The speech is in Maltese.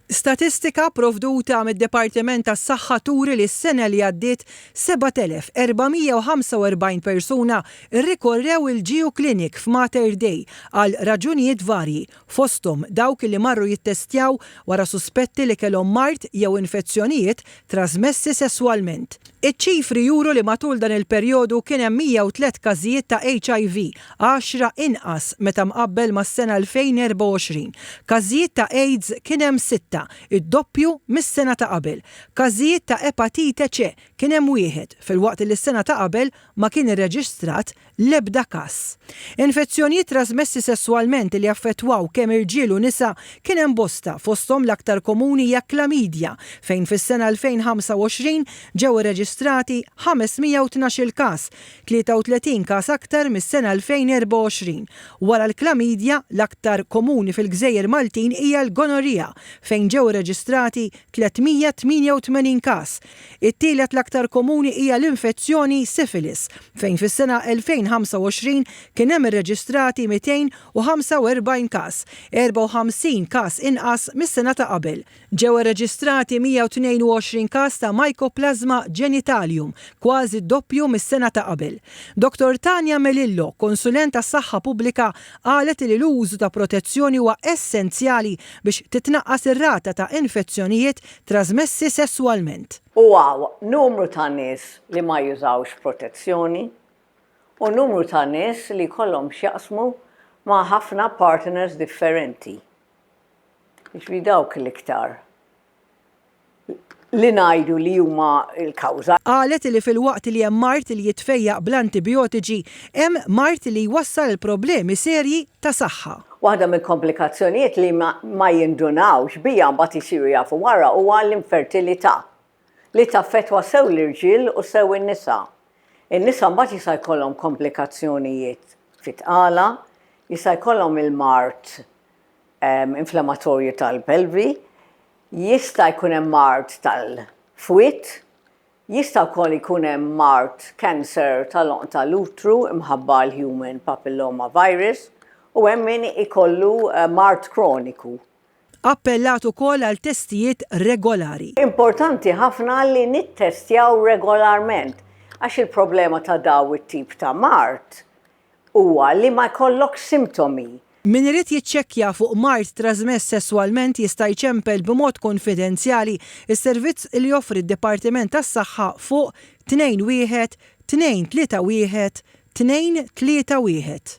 Statistika pprovduta mid-Dipartiment tas-Saħħa turi li s-sena li għaddiet 7,445 persuna rrikorrew il-GU Clinic f'Mater Dei għal raġunijiet varji, fosthom dawk li marru jittestjaw wara suspetti li kellhom mard jew infezzjonijiet trasmessi sesswalment. Iċ-ċifri juru li matul dan il-perjodu kien hemm 103 każijiet ta' HIV, għaxra inqas meta mqabbel mas-sena 2024. Każijiet ta' AIDS kien hemm sitta, id-doppju mis-sena ta' qabel. Każijiet ta' Epatite C kien hemm wieħed, filwaqt li s-sena ta' qabel ma kien irreġistrat l-ebda każ. Infezzjonijiet trasmessi sesswalment li jaffettwaw kemm irġiel u nisa kien hemm bosta, fosthom l-aktar komuni hija klamidja, fejn fis-sena 2025 ġew irreġistrati 512-il każ, 33 każ aktar mis-sena 2024. Wara l-klamidja, l-aktar komuni fil-gżejjer Maltin hija l-gonorrhea, fejn ġew irreġistrati 388 każ, It-tielet l-aktar komuni hija l-infezzjoni Syphilis, fejn fis-sena 2025 kien hemm irreġistrati 245 każ, 54 każ inqas mis-sena ta' qabel. Ġew irreġistrati 122 każ ta' Mycoplasma genitalium, kważi d-doppju mis-sena ta' qabel. Dottor Tania Melillo, konsulent għas-saħħa pubblika, qalet li l-użu ta' protezzjoni huwa essenzjali biex titnaqqas ir-rata ta' infezzjonijiet trażmessi sesswalment. U hawn numru ta' nies li ma jużawx protezzjoni u numru ta' nies li jkollhom x'jaqsmu ma' ħafna partners differenti. Jiġifieri dawk l-iktar li ngħidu li huma l-kawża. Qalet li filwaqt li hemm mard li jitfejjaq bl-antibijotiċi, hemm mard li jwassal għal problemi serji ta' saħħa. Waħda mill-komplikazzjonijiet li ma jindunawx biha mbagħad isiru jafu wara huwa l-infertilità, li taffettwa sew l-irġiel u sew in-nisa. In-nisa mbagħad jista' jkollhom komplikazzjonijiet fit-tqala, jista' jkollhom il-mard inflamatorju tal-pelvi, jista' jkun hemm mard tal-fwied, Jista' wkoll ikun hemm mard, cancer, tal-għonq tal-utru imħabba għall-human papilloma virus u hemm min ikollu mard kroniku. Appellat ukoll għal testijiet regolari. Importanti ħafna li nittestjaw regolarment għax il-problema ta' daw it-tip ta' mard huwa li ma jkollokx simtomi. Min irid jiċċekkja fuq mard trażmess sesswalment jista' jċempel b'mod kunfidenzjali s-servizz li joffri d-Dipartiment tas-Saħħa fuq 212 231 231.